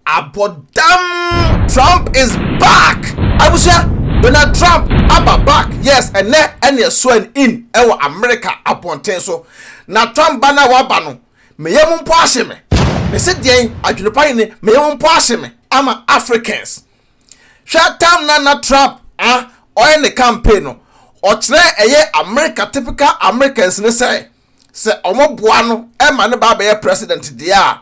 Abɔdam Trump is back! Abusua, Donald Trump aba back, yes, ɛnnɛ ɛne ɛswearing in ɛwɔ America abɔnten so. Na Trump ba no a waba no, me yam mpo ahye me. Me se deɛn, adwenepa hene, me yam mpo ahye me ama Africans. Hwɛ time na na Trump ah, ɔyɛ ne campaign no, ɔkyerɛɛ ɛyɛ America typical Americans no sɛ, sɛ ɔmo boa no ma no ba abɛyɛ president deɛ a,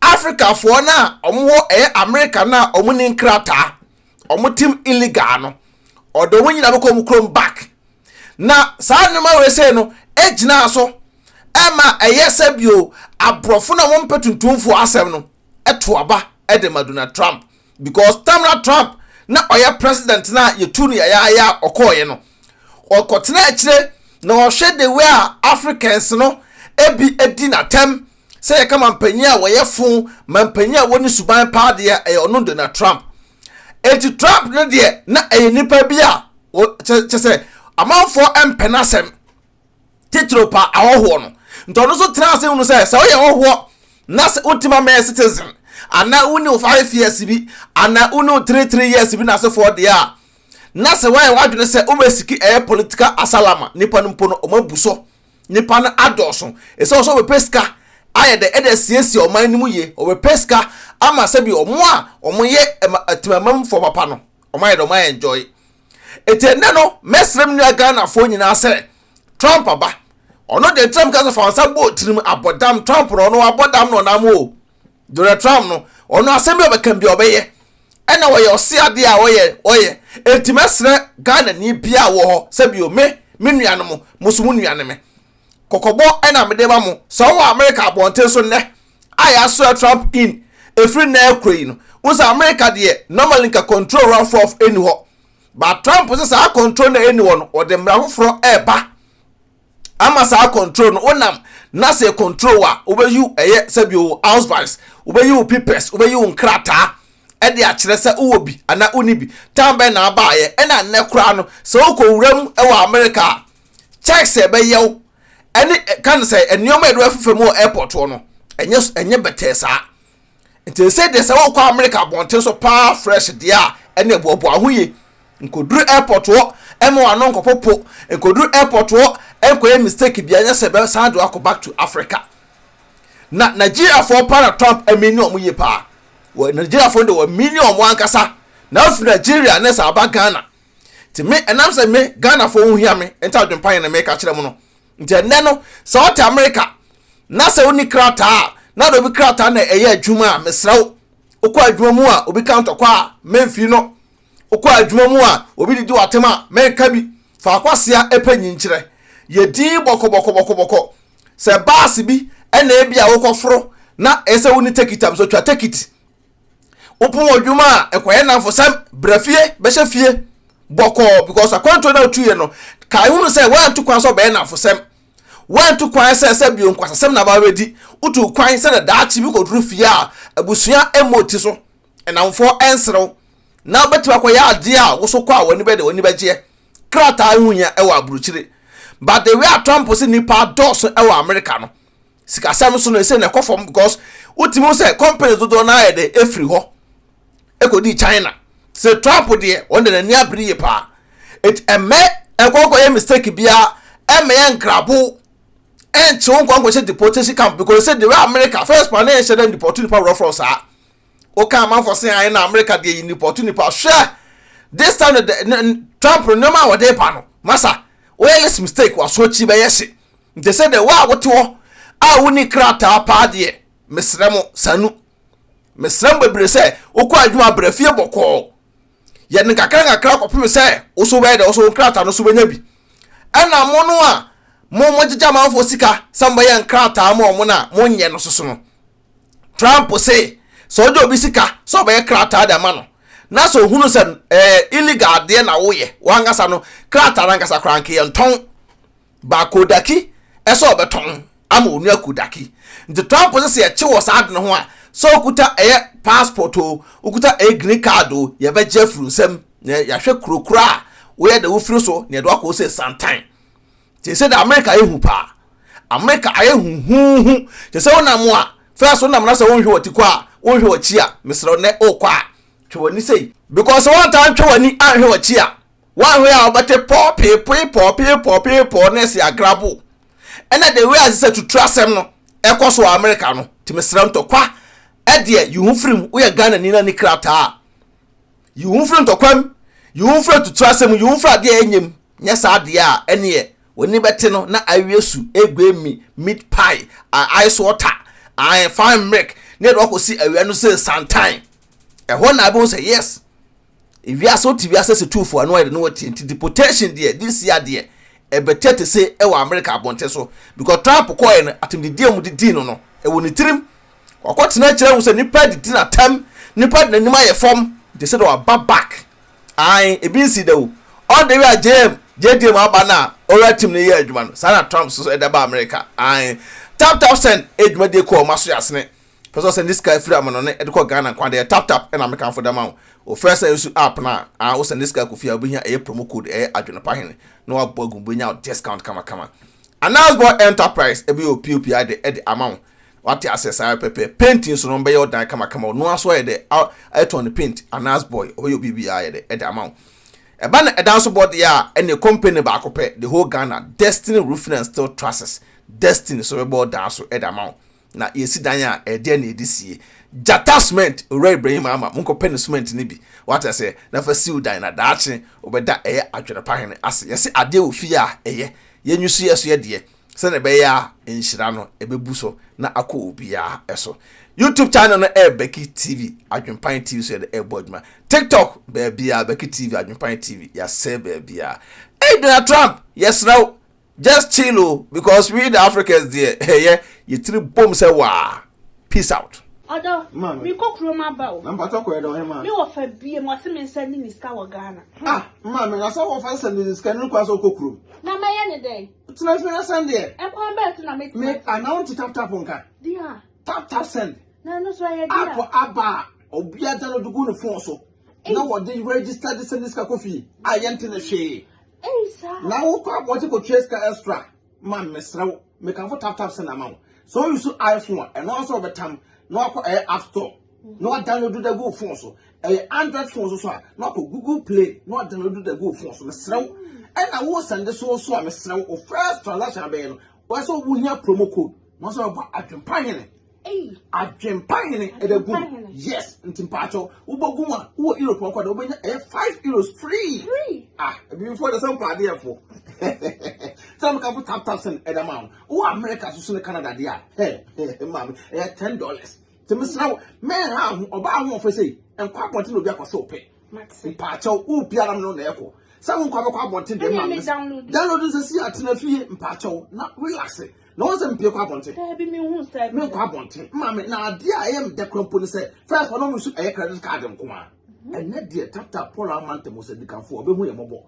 Africa foɔ no a ɔmo wɔ ɛyɛ America no a ɔmo ni nkrataa, ɔmo tim illegal no, ɔde ɔmo nyina bɛkɔ ɔmo kurom back. Na saa nneɛma wei sei no gyinaa so ɛma ɛyɛ sɛ bio aborɔfo no a ɔmo mpɛ tuntumfoɔ asɛm no ɛto aba de ma Donald Trump. because tam na trump na ɔyɛ president na yɛtu no yɛyɛayɛ a ɔkɔɔyɛ no ɔkɔtena akyire na ɔhwɛ de wei a africans no ebi adi n'atɛm sɛ yɛka mampanyin a wɔyɛ fo mampanyin a wɔne suban paa deɛ ɛyɛ ɔno donald trump eti trump no deɛ na ɛyɛ nipa bi a kyɛ sɛ amanfoɔ mpɛ n'asɛm titiriw pa ahɔhoɔ no nti ɔno nso tena ase hunu sɛ sɛ woyɛ hɔhoɔ na sɛ wotumi amɛyɛ citizen anaa wone wo five years bi anaa wone wo three three years bi na asefoɔ deɛ a na sɛ woayɛ w'adwene sɛ wobɛsiki ɛyɛ political asalama nipa no mpo no ɔma bu so nipa no adɔɔso ɛsɛ ɔsɛ wɔbɛpɛ sika ayɛ dɛ ɛde asiesie ɔman no mu yie wɔbɛpɛ sika ama sɛ bi ɔmo a ɔmo yɛ ɛma atimamamfoɔ papa no ɔmo ayɛ dɛ ɔmo ayɛ enjoy eti ɛnɛ no mɛsrɛ me nua ghanafoɔ nyinaa sɛ trump aba ɔno deɛ trump kasa fa nsa bɔ tirim abɔdam trump no ɔno abɔdam no ɔnam o dore trump no ɔno asɛm bi ɔbɛka bi ɔbɛyɛ ɛna ɔyɛ ɔse adeɛ a ɔyɛ ɔyɛ eti mɛsrɛ ghana ni bia wɔ hɔ sɛ bio me me nua no mo mo so mo nua no me kɔkɔbɔ ɛna mede ma mo sɛ ɔwɔ amerika abɔnten so nnɛ a yɛasoa Trump in ɛfiri nnɛ rekɔ yi no, wo sɛ America deɛ normally nka control rough rough ɛnni hɔ. But Trump sɛ saa control no ɛnni hɔ no, ɔde mmara foforɔ ɛreba ama saa control no. Wonam na sɛ control a, wobɛyi wo ɛyɛ sɛbi wo ausweis, wobɛyi wo papers, wobɛyi wo nkrataa ɛde akyerɛ sɛ wowɔ bi anaa wonni bi. Tan bɛn na abaayɛ ɛna nnɛ koraa no sɛ wokɔ wura mu ɛwɔ America a, Check sɛ ɛbɛyɛ wo ɛne ka no sɛ nneɛma a yɛde bɛfefa mu wɔ airport hɔ no ɛnyɛ ɛnyɛ bɛtɛɛ saa nti sɛ deɛ sɛ wokɔ America abɔnten so paa fresh deɛ a ɛne boaboa ho yie nkɔduru airport hɔ ɛma wano nkɔpopo nkɔduru airport hɔ nkɔyɛ mistake bia nyɛ sɛ bɛsan de wakɔ back to Africa na Nigeriafoɔ paa na Trump ɛmi ne ɔmo yie paa wɔ Nigeriafoɔ de wɔ mi ne ɔmo ankasa na afiri Nigeria ne sɛ aba Ghana nti me ɛnam sɛ me ghanafoɔ ho hia me nti adwempa yɛ na meka kyerɛ mu no nti ɛnɛ no sɛ ɔte amerika na sɛ woni krataa a na de obi krataa na ɛyɛ adwuma a mesrɛ wo wokɔ adwuma mu a obi ka ntɔkwa a memfii no wokɔ adwuma mu a obi didi watem a menka bi fa akwasia ɛpɛ nyinkyerɛ yɛ din bɔkɔbɔkɔbɔkɔbɔkɔ sɛ baase bi ɛna ebi a wokɔforo na ɛsɛ woni tekit a mesɛ twa tekit wopɔn adwuma a ɛkɔyɛ nnamfo san bra fie bɛhyɛ fie bɔkɔɔ because akwantuo no a wotuiɛ no kae hunu sɛ woanto kwan sɛ ɔbɛyɛ nnamfosɛm woanto kwan sɛ sɛ bio nkwasasɛm na aba bɛdi wotu kwan sɛ na daakye bi kɔduru fie a abusua mmɔ ti so nnamfoɔ ɛnserew na wobɛtumi akɔyɛ adeɛ a woso kɔ a w'ani bɛde w'ani bɛgyeɛ krataa ho hia ɛwɔ aburukyire but the way a Trump se nipa dɔɔso ɛwɔ Amerika no sikasɛm so no ɛsɛ na ɛkɔ fam because wotumi ho sɛ companies dodoɔ no ayɛ dɛ ɛfiri hɔ ɛkɔdii china sɛ trump deɛ wɔn de n'ani abere yie paa ɛti ɛmɛ ɛnkɔnkɔ yɛ mistake biara ɛmɛ yɛ nkrabo ɛnkyew nkɔnkɔ hyɛ deportation camp because sɛ deɛ america first pa ne ɛhyɛ dɛ deport nipa worɔforɔ saa woka amanfoɔ se ayɛ na america deɛ yi deport nipa hwɛ this time the, the, the, trump no nneɛma a wɔde ba no masa woyɛ less mistake waso akyi bɛyɛ hye Nti sɛ dɛ wo a wote hɔ a wonni krataa paa deɛ, mesrɛ mo, sanu. Mesrɛ mo bebree sɛ, wokɔ adwuma a, bra fie bɔkɔɔ. Yɛ no nkakrankakra kɔpem sɛ wo nso wobɛyɛ dɛ, wo nso wo nkrataa no nso wobɛnya bi. Ɛna mo no a mo mogyegye amanfoɔ sika sɛ mobɛyɛ nkrataa ma wɔn no a, monyɛ no soso no. Trump se sɛ wogye obi sika sɛ ɔbɛyɛ krataa de ama no, na sɛ ohunu sɛ ɛyɛ illegal adeɛ na woyɛ, wo ankasa no, krataa no ankasa koraa nka yɛntɔn. baa Kodaki sɛ ɔbɛtɔn ama Onua Kodaki. Nti Trump se sɛ yɛkye wɔ saa ade no ho a, sɛ wokuta ɛyɛ passport o, wokuta ɛyɛ green card o, yɛbɛgye afiri wo nsam na yɛahwɛ kuro koro a woyɛ dɛ wofiri so na yɛde wo akɔ sɛ Santan. Nti ɛsɛ dɛ Amerika ayɛ hu paa. Amerika ayɛ huhuuhu. Kyɛ sɛ wonam a, first wonam na sɛ wonhwɛ w'ati kɔ a, wonhwɛ w'akyi a, mesrɛ wo nnɛ wokɔ a, twe w'ani sei. Because sɛ woantaa ntwe w'ani anhwɛ w'akyi a, Woanhwɛ a wobɛte pɔɔ peepoe pɔɔ peepɔɔ peepɔɔ na ɛse agrabo. Ɛna the way a sɛ tutu asɛm no ɛkɔ so wɔ America no nti mesrɛ wo ntɔkwa ɛdeɛ yi ho firim woyɛ Ghanani na ni krataa a yi wo ho firi ntɔkwa mu yi wo ho firi atutu asɛm mu yi wo ho firi adeɛ a ɛnyɛ mu nyɛ saa deɛ a ɛneɛ w'ani bɛte no na awie su egue mi meat pie I ice water I fine milk ne yɛde wakɔsi awia no sɛ santan ɛhɔ na abɛhu sɛ yes Ewiase wote wiase se tuufoɔ ano ayɛ de ne wɔte nti deportation deɛ this year deɛ ɛbɛtɛ te se ɛwɔ America abɔnten so because Trump kɔɔɛ no atemdidie a wɔde dii no no ɛwɔ ne tirim wakɔ tena akyire ahu sɛ nipa adidi n'atam nipa de n'anim ayɛ fam nti sɛ na waba back ae ebi nsi da o all the way a JM JDM aba no a ɔwura tim no yɛ adwuma no saa na Trump so ɛda ba America ae tap tap send ɛdwumadie kɔɔ maso yasene Pɛ sɛ ɔsɛnde sika firi amanɔne de kɔ Ghana kwan deɛ tap tap na mekamfo de ama wo. Wofrɛ sɛ nsu app no a, aa wo sɛnde sika kɔ fie a wobɛhia ɛyɛ promo code ɛyɛ Adwenepa Hene na wabɔ agu mu wobɛnya wo discount kamakama. Announce Boy Enterprise ɛbɛyɛ wo pop ade de ama wo. Wate aseɛ saa pɛpɛɛpɛ. Paint nso no wɔbɛyɛ wo dan kamakama wo noa nso ayɛ dɛ a ayɛtɔn no paint Announce Boy wɔbɛyɛ wo biribiara ayɛ dɛ de ama wo. Ɛba no ɛdan so bɔ deɛ a ɛneɛ company baako pɛ the whole Ghana Destiny Roofing and Steel Trusses Destiny so bɛbɔ wo dan so de ama wo. na yɛsi dan a, ɛdeɛn na yɛde sie? Gyata cement, Owura Ibrahim Ama, monkɔpɛ no cement no bi, wate aseɛ, na fa siw dan, na daakye wobɛda ɛyɛ adwene pa hene ase. Yɛse adeɛ wɔ fie a, ɛyɛ. Yɛnyi so yɛ so yɛ deɛ, sɛdeɛ ɛbɛyɛ a nhyira no ɛbɛbu so na akɔ obiara so. YouTube channel no ɛyɛ Bɛki TV, Adwempan TV so yɛde ɛrebɔ adwuma. TikTok, baabiara, Bɛki TV, Adwempan TV, yɛasɛe baabiara. Ei Donald Trump, yɛsrɛ wo, just chill o because we the africans deɛ ɛyɛ yɛtiri bom sɛ waa peace out. ɔdɔ mekɔ kurom aba o nampatɔ kɔɛ dɛ ɔhema me wɔ fa bie mu ɔse me nsɛ ne ne sika wɔ ghana ah ma me na sɛ wɔ fa nsɛ ne ne sika ne nkwa sɛ wokɔ kurom na mɛyɛ ne dɛn tena fi asɛn deɛ ɛkwan bɛɛ so na me tena me anawo nti tap tap nka dia tap tap send na ɛno so ɛyɛ dia app aba a obi agya no de gu ne fon so na wɔde register de sɛ ne sika kɔ fie a yɛnte ne hwee na wokɔ abɔnten kɔtua sika extra ma mesrɛ wo mekamfo tap tap send ama wo sɛ woyi so iphone a ɛno nso wɔbɛtam na wakɔ ɛyɛ app store na wadownload da gu phone so ɛyɛ android phone so so a na wakɔ google play na wadownload da gu phone so mesrɛ wo ɛna wo sɛnde so so a mesrɛ wo first transaction abɛyɛ no wɔsɛ wohia promo code na wɔsɛ wɔbɔ adwempa hene Adwempa hene ɛbɛ gu yes nti mpaatɔ wobɔ gu a wowɔ europe ɔkɔ dɛ wobɛnya ɛyɛ five euros free ah ebifoɔ de sɛ mpa adeɛfoɔ sɛ meka fo tap tap sɛn ɛda ma wo wowɔ america so so ne canada deɛ a hɛ hɛ maame ɛyɛ ten dollars nti mesra wo mɛnha ho ɔbaa ho ɔfɛ sei nkɔ abɔnten na obi akɔ sɛ ɔpɛ mpaatɔ wo biara no na ɛkɔ sɛ wo nkɔ abɛkɔ abɔnten deɛ maame download nsɛ si atena fie mpaatɔ na relax na wɔn sɛ mpie kɔ abɔnten daabi mi hu sɛ mi nkɔ abɔnten maame na adeɛ a ɛyɛ mi dɛ kura mpo ne sɛ fɛs hɔ na wɔn su ɛyɛ credit card nko a mhm. ɛnɛ deɛ tata paul amanta mu sɛ dikanfo ɔbɛhu yɛ mɔbɔ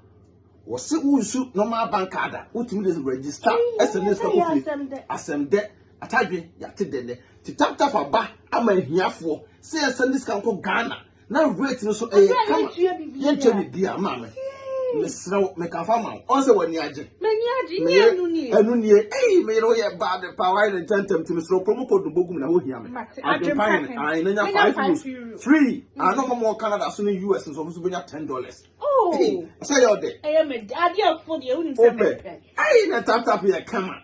wɔsi wusu normal bank card a wotumi de register ɛsɛ ne sika kofi asɛm dɛ atadwe yate dɛ dɛ ti tap tap aba ama ahiafoɔ sɛ yɛsɛ ne sika nkɔ ghana na weight no so ɛyɛ kama yɛntua biribi a maa me mesrɛ wo meka fa ma wo ɔn sɛ w'ani agye ɛno nie ei meyere wo yɛ bad pa wayɛ ne ntɛntɛm nti mesrɛ kuro mu kɔdu bɔgu mu na wohia me adwempa yɛ ae na nya five euros free ano ma mɔ canada so ne us nso ɔmo so bɛnya ten dollars oh. sɛ yɛ ɔdɛ wopɛ ei na taptap yɛ kama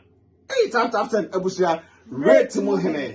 ei taptap sɛn abusua weight mu hene